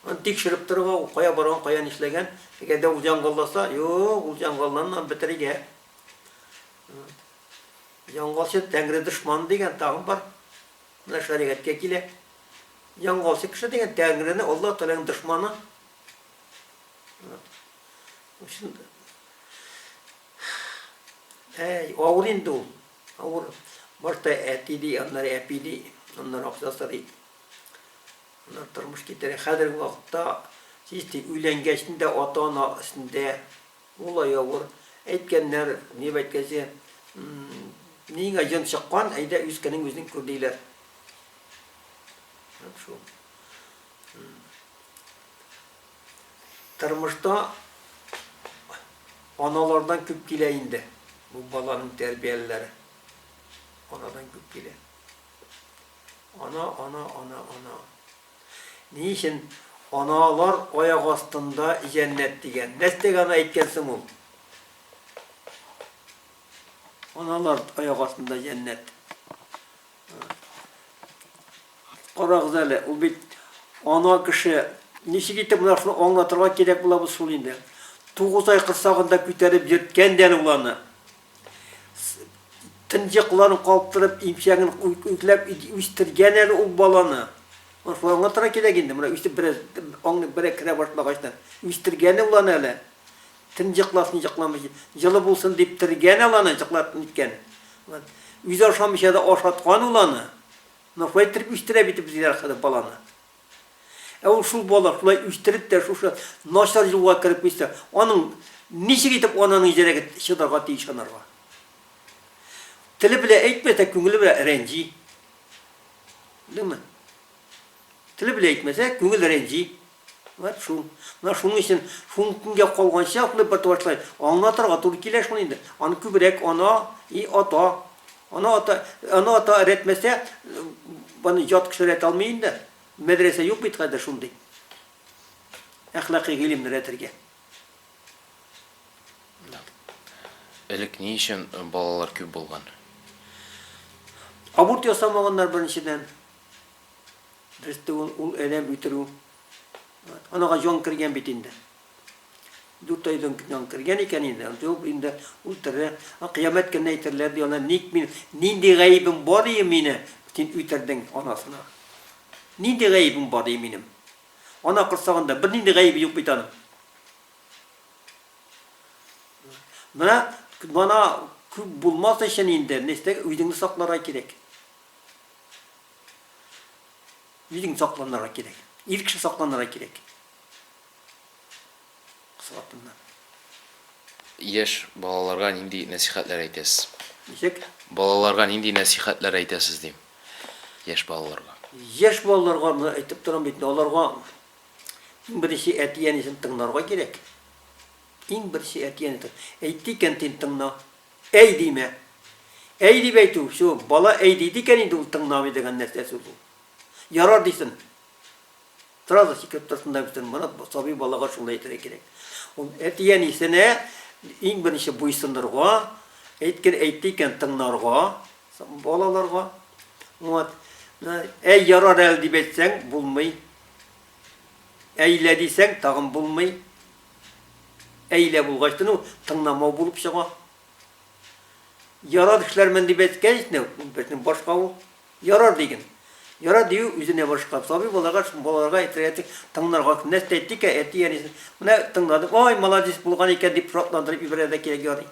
S2: Аны тикшереп торырга, ул кая барган, кая нишләгән. Әгәр дә ул яңгылласа, юк, ул яңгылланман бетерергә. Яңгасы тәңре дошманы дигән тагын бар. Менә шәригатькә килә. Яңгасы кеше дигән тәңрене Аллаһ Тәгаләнең дошманы. Өчен Әй, авыр инде ул. Авыр. Башта әти ди, аннары әпи ди, аннары акча сорый. Аннары тормыш китерә. Хәзерге вакытта чисти өйләнгәчтен дә ата-ана өстендә Мулла явыр, әйткәннәр, ни бәйткәзе, миңа җон чыккан, әйдә үзкәнең үзең күр диләр. Һәм шул. Тормышта аналардан күп килә инде. Бу баланың тәрбияләре. Анадан күп килә. Ана, ана, ана, ана. Ни өчен аналар аяк астында җәннәт дигән? Нәрсәгә аны әйткән соң ул? Аналар аяк астында җәннәт. Карагыз әле, ул бит ана кеше ничек итеп менә шуны аңлатырга кирәк булабыз шул инде. Тугыз ай корсагында күтәреп йөрткән дә ул аны. тынҗыкларын каптырып, имчәген үзләп үстергән әле ул баланы. Аңланга тора кирәк инде, менә үсеп бераз аңлы берәк керә башлагач та. Үстергән ул аны әле. Тынҗыкласын җыкламыйча, җылы булсын дип тергән ул аны, җыклап ниткән. Үзе ашамыйча да ашаткан ул аны. Менә шулай иттереп үстерә бит безгә хәзер баланы. Ә ул шул бала шулай үстереп тә шушы начар юлга кереп китсә, аның ничек итеп ананың йөрәге чыдарга тиеш анарга? Теле белән әйтмәсә, күңеле белән рәнҗи. Белдеңме? Теле белән әйтмәсә, күңел рәнҗи. Вәт шул. Менә шуның өчен шул көнгә калганча шулай бер башлай. Аңлатырга туры килә шул инде. Аны күбрәк ана и ата Ана ата, ана ата өйрәтмәсә, баны ят кеше өйрәтә алмый инде. Мәдрәсә юк бит хәзер шундый. Әхлакый гыйлемне өйрәтергә.
S1: Элек ни өчен балалар күп булган?
S2: Аборт ясамаганнар беренчедән. Берсе ул, ул адәм үтерү. Анага җан кергән бит инде. Дүрт айдан көн кергән икән инде, андый ул инде ул тере, аңа кыямәт көнне әйтерләр, ди, ана, ник мин, нинди гаебем бар, ди, мине син үтердең, анасына. Нинди гаебем бар, ди, минем? Ана корсагында бернинди гаебе юк бит аның. Менә мана күп булмас өчен инде, нәрсә үзеңне сакларга кирәк. Үзең сакланырга кирәк. Ир кеше сакланырга кирәк. Яшь
S1: балаларга нинди нәсихәтләр әйтәсез? Ничек?
S2: Балаларга нинди
S1: нәсихәтләр әйтәсез дим. Яшь балаларга. Яшь балаларга
S2: моны әйтеп торам бит, аларга иң беренче әти-әнисен тыңларга кирәк. Иң беренче әти-әни әйтте икән, син тыңла. Әй димә. Әй дип әйтү, все, бала әй диде икән инде ул тыңламый дигән нәрсәсе бу. Ярар дисен. Торабыз ике ортасында бөтен Марат сабый балага шулай әйтергә кирәк. Ул әти-әнисенә иң беренче буйсынырга, әйткән әйтте икән тыңнарга балаларга. Вот. Әй ярар әле дип әйтсәң булмый. Әйлә дисәң тагын булмый. Әйлә булгач ну тыңламау булып чыга. Ярар эшләрмен дип әйткәч, безнең башка ул. Ярар, диген. Ярар дию үзенә борычкап, сабый балага, балаларга әйтергә тиң, тыңнарга, нәрсә дә әйтик ә, әти, әнисе, менә тыңладым, ай, маладис булган икән, дип шатландырып ибәрә дә кирәк, ярый.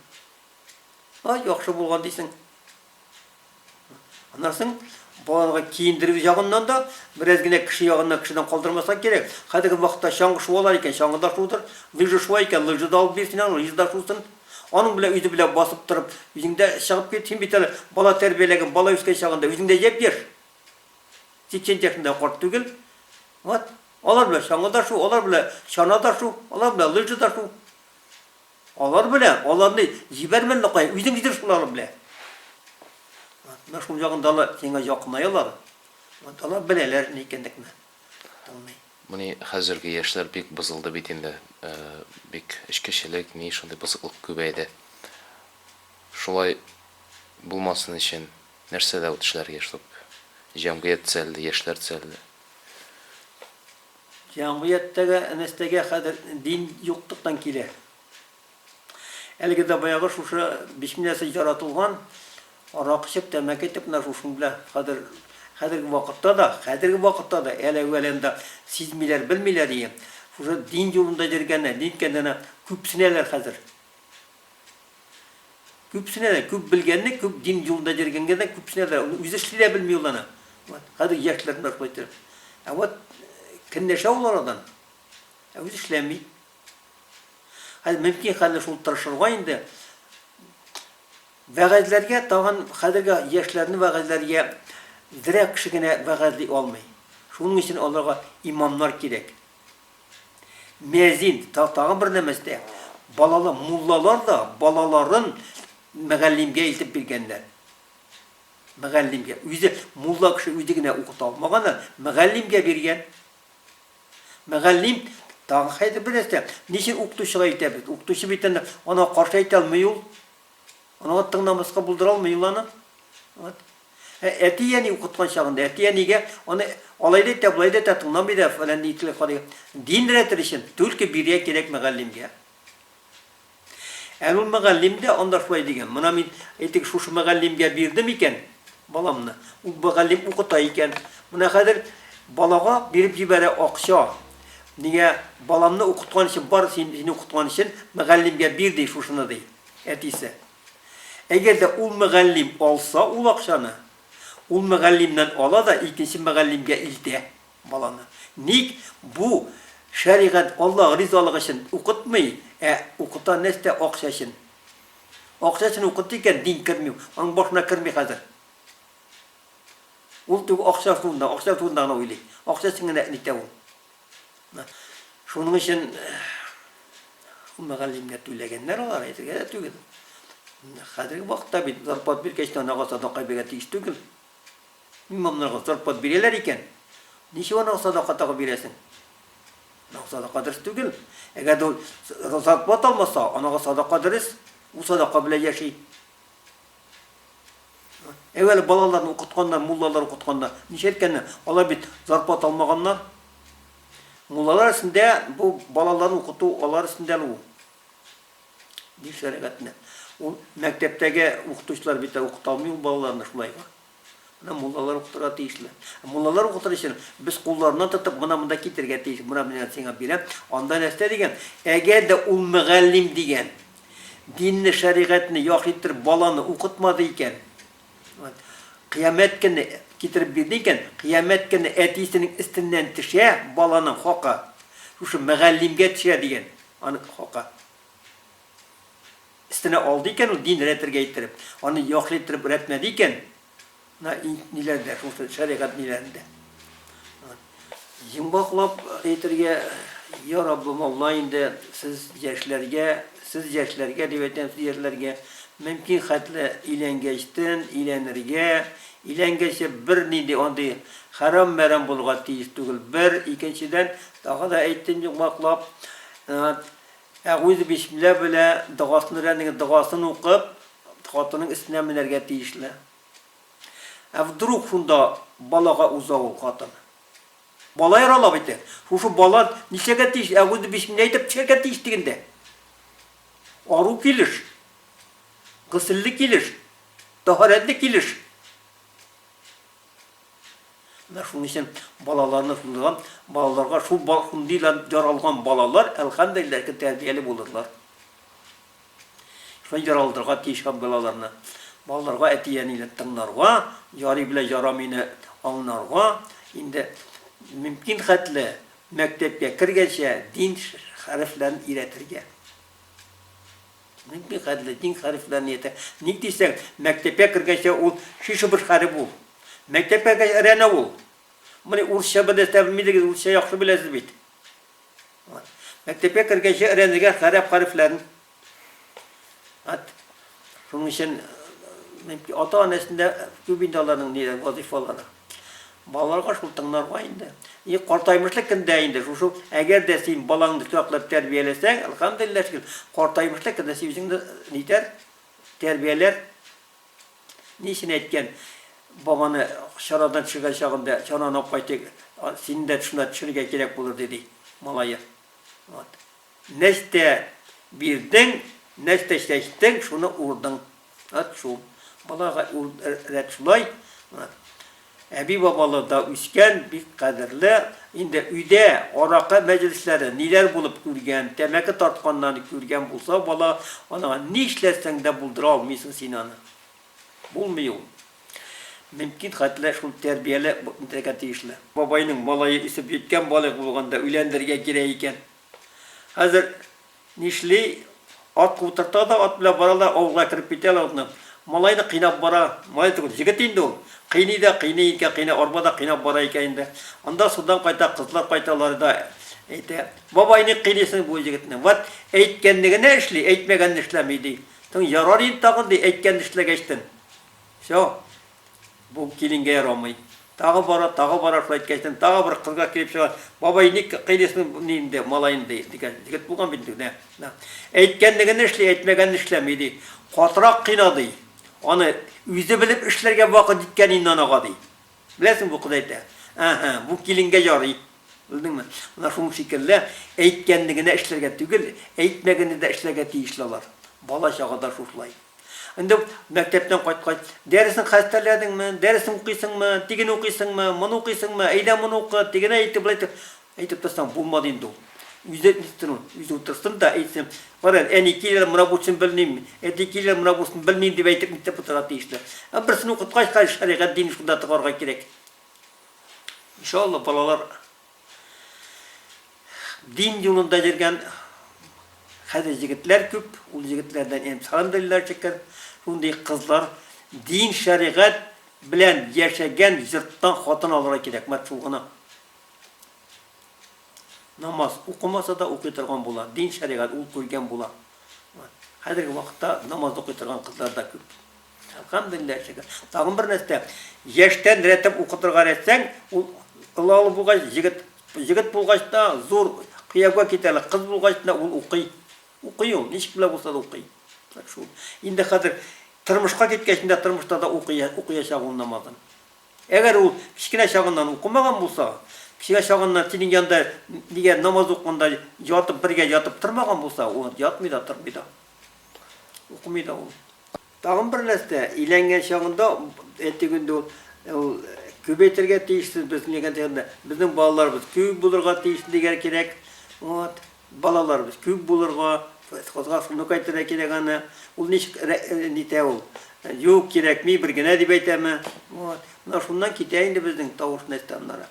S2: Ай, яхшы булган дисең. Аннан соң балаларга киендерү ягыннан да, бераз генә кеше ягыннан кешедән калдырмаска кирәк. Хәзерге вакытта чаңгы шуалар икән, чаңгы да шудыр, лыжа шуа икән, лыжа да алып бир син аны, лыжа да шусын. Аның белән үзе белән басып торып, үзең дә чыгып кит, син бит әле бала тәрбияләгән, бала үскән чагында үзең дә япь-яшь. 80 яшендә карт түгел. Вот. Алар белән чаңгы да шу, алар белән чана да шу, алар белән лыжа да шу. Алар белән, аларны җибәрмә әле кая, үзең йөр шул алар белән. Вот. Менә шул ягында ла сиңа якынаялар. Вот. Алар беләләр ни икәнлекне. булмый. Бу ни,
S1: хәзерге яшьләр бик бозылды бит инде, бик эчкечелек, ни, шундый бозыклык күбәйде. Шулай булмасын өчен нәрсәдә ут эшләргә, чтоб җәмгыять төзәлде, яшьләр төзәлде?
S2: Җәмгыятьтәге нәрсәгә хәзер дин юклыктан килә. Әлеге дә баягы шушы бисмилләсез яратылган аракы эчеп, тәмәке итеп менә шушының белән хәзер хәзерге вакытта да, хәзерге вакытта да әле әвәләндә сизмиләр, белмиләр ие. Шушы дин юлында йөргәннәр, ниткәннәр күпсенәләр хәзер. Күпсенәләр, күп белгәнне, күп дин юлында йөргәнгә дә күпсенәләр. Ул үзе эшли дә белми ул аны. Вот, хәзер яшьләр менә шулай итеп. Ә вот көнләшә ул арадан. Ә үзе эшләми. Хәзер мөмкин хәзер шул тырышырга инде. Вәгазьләргә тагын хәзерге яшьләрне вәгазьләргә зря кеше генә вәгазьли алмый. Шуның өчен аларга имамнар кирәк. Мөәзин тагын бер нәмәстә балалы муллалар да балаларын мәгаллимгә илтеп биргәннәр. Мәгаллимгә үзе мулла кеше үзе генә укыта алмаган, мәгаллимгә биргән. Мөгаллим, тагын хәзер бер нәрсә, ни өчен укытучыга әйтәбез? Укытучы бит аны, анага каршы әйтә алмый ул. Анага тыңламаска булдыра алмый ул аны. Вот. Ә әти-әни укыткан чагында, әти-әнигә аны алай да әйтә, болай да әйтә, тыңламый да, фәлән итли, фалай. Дин рәте өчен, түлке бирия кирәк мөгаллимгә. Ә бу мөгаллим дә анда шулай дигән, Мона мин, әйтик, шушы мөгаллимгә бирдем икән баламны, ул мөгаллим укыта икән, мона хәзер балага биреп җибәрә акча, нигә, баламны укыткан өчен, бар сине укыткан өчен мөгаллимгә бир ди шушыны, ди әтисе. Әгәр дә ул мөгаллим алса ул акчаны, ул мөгаллимнән ала да икенче мөгаллимгә илтә. Баланы ник бу шәригать Аллаһ ризалыгы өчен укытмый, ә укыта нәрсә акча өчен. Акча өчен укыта икән, дин керми, аның башына керми хәзер. Ул тик акча турында, акча турында гына уйлый. Акча өчен генә нитә ул. Шуның өчен мөгаллимгә түләгәннәр алар, әйтергә дә түгел. Хәзерге вакытта бит зарплат биргәч, анага садака биргә тиеш түгел. Имамнарга зарплат бирәләр икән, ничек анага садака тагы бирәсең? Анага садака дөрес түгел. Әгәр дә ул зарплат алмаса, анага садака дөрес, ул садака белән яши. Әүвәле балаларны укытканнар, муллалар укытканнар. Ничә әйткәннәр, алар бит зарплат алмаганнар. Муллалар өстендә бу балаларны укыту алар өстендә ул. Ник шәрәгатенә? Ул мәктәптәге укытучылар бит укыта алмый ул балаларны шулай. Аны муллалар укытырга тиешле. Муллалар укытыр өчен без кулларыннан тотып, мына монда китергә тиеш, мына менә сиңа бирәм, анда нәрсә дигән? Әгәр дә ул мөгаллим дигән динне, шәригатьне яхшы иттереп баланы укытмады икән, кыямәт көне китереп бирде икән, кыямәт көне әтисенең өстеннән төшә баланың хакы, шушы мөгаллимгә төшә дигән аның хакы. Өстенә алды икән ул дин рәтергә иттереп. Аны яхлый иттереп рәтмәде икән. На ниләрдә, шул шәригать ниләрендә. Йомгаклап әйтергә, я Раббым Алла инде сез яшьләргә, сез яшьләргә дип әйтәм, сез яшьләргә мөмкин хәтле иләнгәчтен иләнергә, иләнгәче бер нинди андый хәрам мәрам булга тиеш түгел. Бер, икенчедән, тагы да әйттем йомгаклап, Ә үзе бисмилла белә догасын өйрәнегез, догасын укып, хатынның өстенә менәргә тиешле. Ә вдруг шунда балага уза ул хатын? Бала ярала бит ул. Шушы бала нишләргә тиеш? Ә үзе бисмилла әйтеп төшәргә тиеш дигәндә. Ару килеш. Гөселле килеш. Тәһарәтле килеш. Менә шуның өчен балаларны шундый да, балаларга шул бал шундый да яралган балалар, әлхәмдүлилләһ, ки, тәрбияле булырлар. Шулай яралдырга тиеш һәм балаларны. Балаларга әти-әнине тыңларга, ярый белән ярамыйны аңларга, инде мөмкин хәтле мәктәпкә кергәнчә дин хәрефләрен өйрәтергә. Нинди хәтле дин хәрефләнияте? Ник дисәң, мәктәпкә кергәнче ул шише-быш хәреф ул. Мәктәпкә кергәч әрәнә ул. Моны урысча беләсезме, белмисезме, урысча яхшы беләсез бит. Вот. Мәктәпкә кергәнче әрәнегә хәрәп хәрефләрен. Вот. Шуның өчен ата-анасында күп инде аларның ниләр вазифалары. Балаларга шул тыңларга инде. И картаймышлык көндә инде шушы, әгәр дә син балаңны саклап тәрбияләсәң, әлхәмдулиллаһ шөкер, картаймышлык көндә син үзеңне нитәр, тәрбияләр. Ни өчен әйткән, бабаны чарадан төшергән чагында, чараны алып кайтыйк, сине дә шунда төшерергә кирәк булыр, диде малае. Вот. Нәрсә бирдең, нәрсә чәчтең, шуны урдың. Ат шул. Балага ул рәт шулай. Әби-бабалы да үскән, бик кадерле. Инде өйдә аракы мәҗлесләре ниләр булып күргән, тәмәке тартканнан күргән булса бала, анага нишләсәң дә булдыра алмыйсың син аны. Булмый ул. Мөмкин хәтле шул тәрбияле итәргә тиешле. Бабайның малае үсеп җиткән балык булганда өйләндерергә кирәк икән. Хәзер нишли, атка утырта да, ат белән бара да, авылга кереп китә лә атны. Малайны кыйнап бара. Малай түгел, җегет инде ул. Кыйный да кыйный икән, кыйнап, арба да кыйнап бара икән инде. Анда судан кайта, кызлар кайталар да әйтә, Бабай, ник кыйныйсың бу егетне? Вәт, әйткәнне генә эшли, әйтмәгәнне эшләми, ди. Соң ярар инде тагын, ди, әйткәнне эшләгәчтен. Всё. Бу киленгә ярамый. Тагы бара, тагы бара, шулай иткәчтән, тагы бер кызга килеп чыга. Бабай, ник кыйныйсың бу ни инде, малаем, ди, дигән. Егет булган бит инде, нә. Әйткәнлеген эшли, әйтмәгәнен эшләми, ди. Катырак кыйна, ди. Аны үзе белеп эшләргә вакыт җиткән инде анага, ди. Беләсеңме, бу кыз әйтә. Әһә, бу киленгә ярый. Белдеңме? Менә шуның шикелле, әйткәнне генә эшләргә түгел, әйтмәгәнне дә эшләргә тиешле алар. Бала чагада шушылай. Инде мәктәптән кайткач, дәресен хәстәрләдеңме, дәресен укыйсыңмы, тиген укыйсыңмы, моны укыйсыңмы, әйдә моны укы, тигене әйтеп, болай итеп, әйтеп торсаң булмады инде ул. Үзе әйтсен ул, үзе утырсын да әйтсен. Кара, әни килер, менә бусын белмим, әти килер, менә бусын белмим дип әйтеп нишләп утырырга тиешле. Ә берсен укыткач, хәзер шәригать динен шунда тыгарга кирәк. Иншалла, балалар Дин юлында йөргән хәзер егетләр күп, ул егетләрдән эмсалын белерләр чикер, шундый кызлар дин шәригать белән яшәгән йорттан хатын алырга кирәк, мат шул гына. Намаз укымаса да укый торган була, дин шәригать ул күргән була. Хәзерге вакытта намаз укый торган кызлар да күп. Әлхәмдулиллаһ шөкер. Тагын бер нәрсә, яшьтән рәтем укытырга рәтсәң, ул олалы булгач, егет, егет булгач та зур кыяуга китә әле, кыз булгач та ул укый. Укый ул, ничек белә булса да укый. Так шул. Инде хәзер тормышка киткәч инде тормышта да укый, укыячак ул намазын. Әгәр ул кечкенә чагыннан укымаган булса, кечкенә чагыннан синең янда нигә намаз укында ятып бергә ятып тормаган булса, ул ятмый да тормый да. Укымый да ул. Тагын бер нәрсә, иләнгән чагында әйтик инде ул күбәйтергә тиешсез без дигән дигәндә, безнең балаларыбыз күп булырга тиеш дигән кирәк. Вот, балаларыбыз күп булырга, кызга сынок әйтергә кирәк аны. Ул ничек нитә ул? Юк, кирәкми, бер генә дип әйтәме? Вот. Менә шуннан китә инде безнең тавыш нәрсә аннары.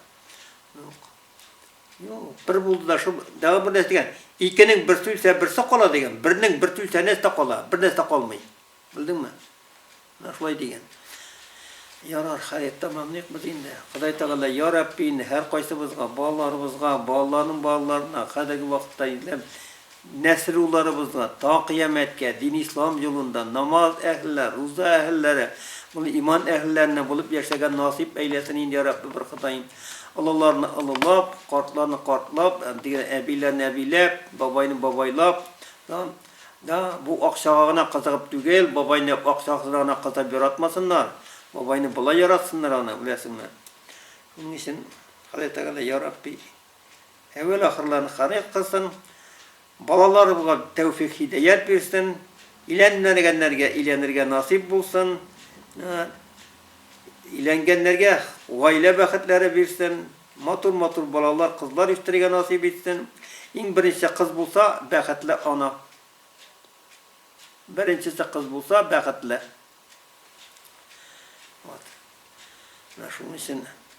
S2: Юк. Юк, бер булды да шул, дәва бер нәрсә дигән, икенең берсе үлсә, берсе кала дигән, бернең берсе үлсә, нәрсә дә кала, бер нәрсә дә калмый. Белдеңме? Менә шулай дигән. Ярар, хәер, тәмамлыйк без инде. Ходай Тәгалә, я Рабби, инде һәркайсыбызга, балаларыбызга, балаларның балаларына, хәзерге вакытта инде Нәсел-улларыбызга та кыямәткә дин-ислам юлында намаз әһелләр, руза әһелләре, моны иман әһелләреннән булып яшәргә насыйп әйләсен инде, йа Рабби, бер Ходаем. Олыларны олылап, картларны картлап, дигән, әбиләрне әбиләп, бабайны бабайлап, да, да, бу акчага гына кызыгып түгел, бабайны акчасына гына кызыгып яратмасыннар, бабайны болай яратсыннар аны, беләсеңме? Шуның өчен Ходай Тәгалә, йа Рабби, Әвәл-ахырларын Ханык кылсын, балаларыбызга тәүфик-һидәят бирсен, иләнмәгәннәргә иләнергә насыйп булсын, иләнгәннәргә гаилә бәхетләре бирсен, матур-матур балалар, кызлар үстерергә насыйп итсен. Иң беренче кыз булса, бәхетле ана. Беренчесе кыз булса, бәхетле. Вот. Менә шуның өчен